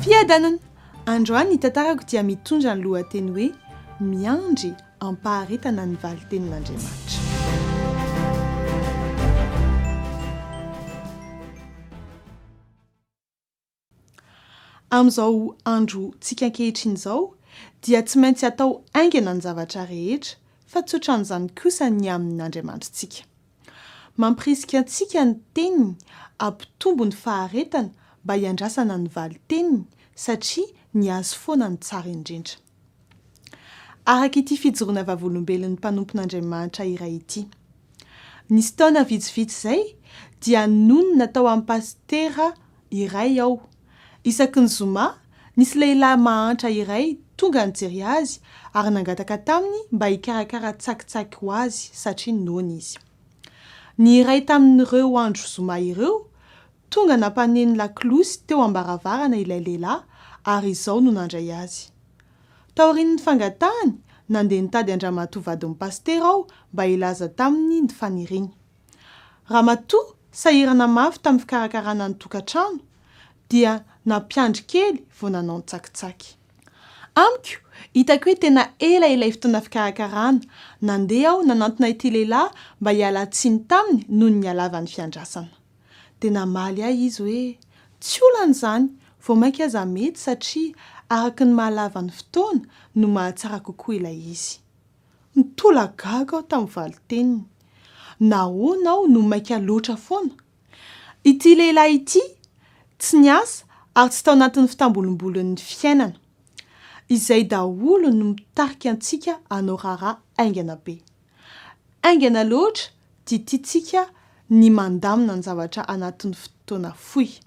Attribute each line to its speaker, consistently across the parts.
Speaker 1: Fiadanana! Androany ny tantarako dia mitondra ny lohateny hoe Miandry am-paharetana ny valin-tenin'Andriamanitra. Amin'izao androntsika ankehitriny izao dia tsy maintsy atao haingana ny zavatra rehetra fa tsy ohatran'izany kosa ny amin' Andriamanitrintsika. Mampirisika antsika ny Teniny hampitombo ny faharetana mba hiandrasana ny valin-teniny satria ny Azy foana no tsara indrindra. Araka ity fijoroana vavolombelon'ny mpanompon'Andriamanitra iray ity. Nisy taona vitsivitsy izay dia nonina tao amin'ny pasitera iray aho. Isaky ny zoma, nisy lehilahy mahantra iray tonga nijery azy ary nangataka taminy mba hikarakara tsakitsaky ho azy satria noana izy. Ny iray tamin'ireo andro zoma ireo Tonga nampaneno lakolosy teo am-baravarana ilay lehilahy ary izao no nandray azy. Taorian'ny fangatahany, nandeha nitady an-dramatoa vadin'ny pasitera aho mba hilaza taminy ny faniriany. Ramatoa sahirana mafy tamin'ny fikarakarana ny tokantrano, dia nampiandry kely vao nanao ny tsakitsaky. Amiko, hitako hoe tena ela ilay fotoana fikarakarana, nandeha aho nanantona ity lehilahy mba hiala tsiny taminy noho ny halavan'ny fiandrasana. Dia namaly ahy izy hoe, Tsy olana izany, vao mainka aza mety satria araka ny maha lava ny fotoana no mahatsara kokoa ilay izy. Nitolagaga aho tamin'ny valin-teniny. Nahoana aho no maika loatra foana? Ity lehilahy ity tsy niasa ary tsy tao anatin'ny fitambolombolon'ny fiainana. Izay daholo no mitarika antsika hanao raharaha haingana be. Haingana loatra dia tiantsika ny mandamina ny zavatra anatin'ny fotoana fohy.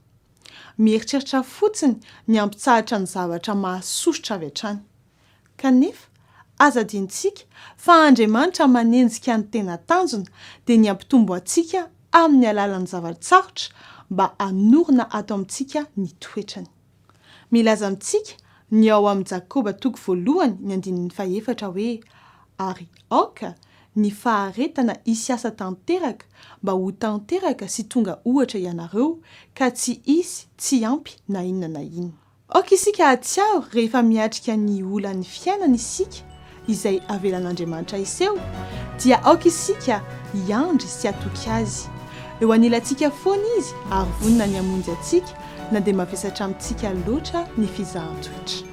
Speaker 1: Mieritreritra fotsiny ny hampitsahatra ny zavatra mahasosotra avy hatrany. Kanefa, aza adinontsika fa Andriamanitra manenjika ny tena tanjona dia ny hampitombo antsika amin'ny alalan'ny zava-tsarotra mba hanorina ato amintsika ny toetrany. Milaza amintsika ny ao amin'i Jakoba toko voalohany ny andininy fahefatra hoe, Ary aoka ny faharetana hisy asa tanteraka mba ho tanteraka sy tonga ohatra ianareo, ka tsy hisy tsy ampy na inona na inona. Aoka isika hahatsiaro rehefa miatrika ny olan'ny fiainana isika izay avelan'Andriamanitra hiseho, dia aoka isika hiandry sy hatoky Azy. Eo anilantsika foana Izy ary vonona ny hamonjy antsika na dia mavesatra amintsika loatra ny fizahan-toetra.